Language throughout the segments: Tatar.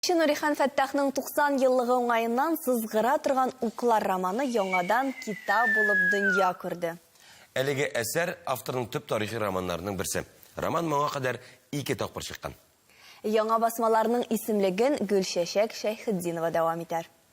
Кече Нурихан Фәттахның 90 еллыгы уңаеннан сызгыра торган Уклар романы яңадан китап булып дөнья күрде. Әлеге әсәр, авторның төп тарихи романнарының берсе. Роман моңа кадәр ике тапкыр чыккан. Яңа басмаларның исемлеген Гөлчәчәк Шәйхетдинова дәвам итәр.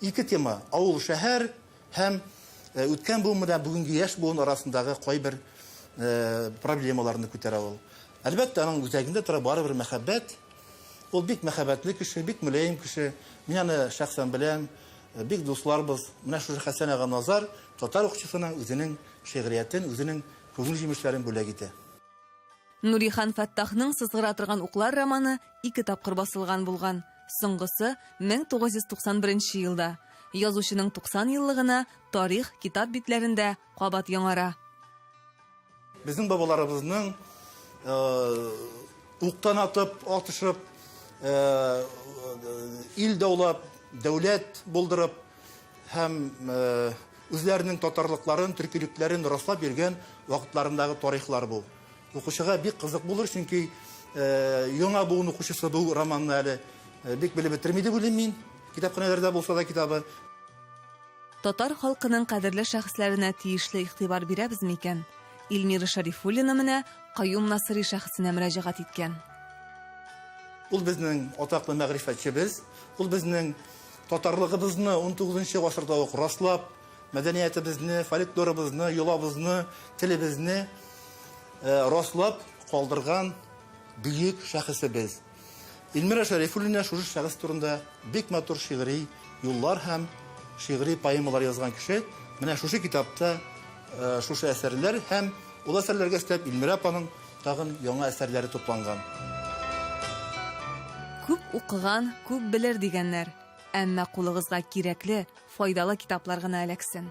Ике тема, авыл, шәһәр һәм үткән буын белән бүгенге яшь буын арасындагы кайбер проблемаларны күтәрә ул. Әлбәттә, аның үзәгендә тора барыбер мәхәббәт. Ул бик мәхәббәтле кеше, бик мөләем кеше. Мин аны шәхсән беләм, бик дусларбыз. Менә шушы Хәсән ага Назар татар укчысына үзенең шигъриятен, үзенең күңел җимешләрен бүләк итә. Нурихан Фәттахның Сызгыра торган уклар романы ике тапкыр басылган булган, соңгысы, 1991 елда. Язучының 90 еллыгына тарих китап битләрендә кабат яңара. Безнең бабаларыбызның уктан атып, атышып, ил даулап, дәүләт булдырып һәм үзләренең татарлыкларын, төркилекләрен раслап йөргән вакытларындагы тарихлар бу. Укучыга бик кызык булыр, чөнки яңа буын укучысы бу романны әле бик белеп бетерми дип уйлыйм мин. Китапханәләрдә булса да китабы. Татар халкының кадерле шәхесләренә тиешле игътибар бирәбез микән? Ильмира Шәрифуллина менә Каюм Насыйри шәхесенә мөрәҗәгать иткән. Ул безнең атаклы мәгърифәтчебез. Ул безнең татарлыгыбызны унтугызынчы гасырда ук раслап, Мәдәниятебезне, фольклорыбызны, йолабызны, телебезне раслап калдырган бөек шәхесебез. Илмира Шәрифуллина шушы шәхес турында бик матур шигъри юллар һәм шигъри поэмалар язган кеше. Менә шушы китапта шушы әсәрләр һәм ул әсәрләргә өстәп Илмира апаның тагын яңа әсәрләре тупланган. Күп укыган, күп белер дигәннәр. Әмма кулыгызга кирәкле, файдалы китаплар гына эләксен.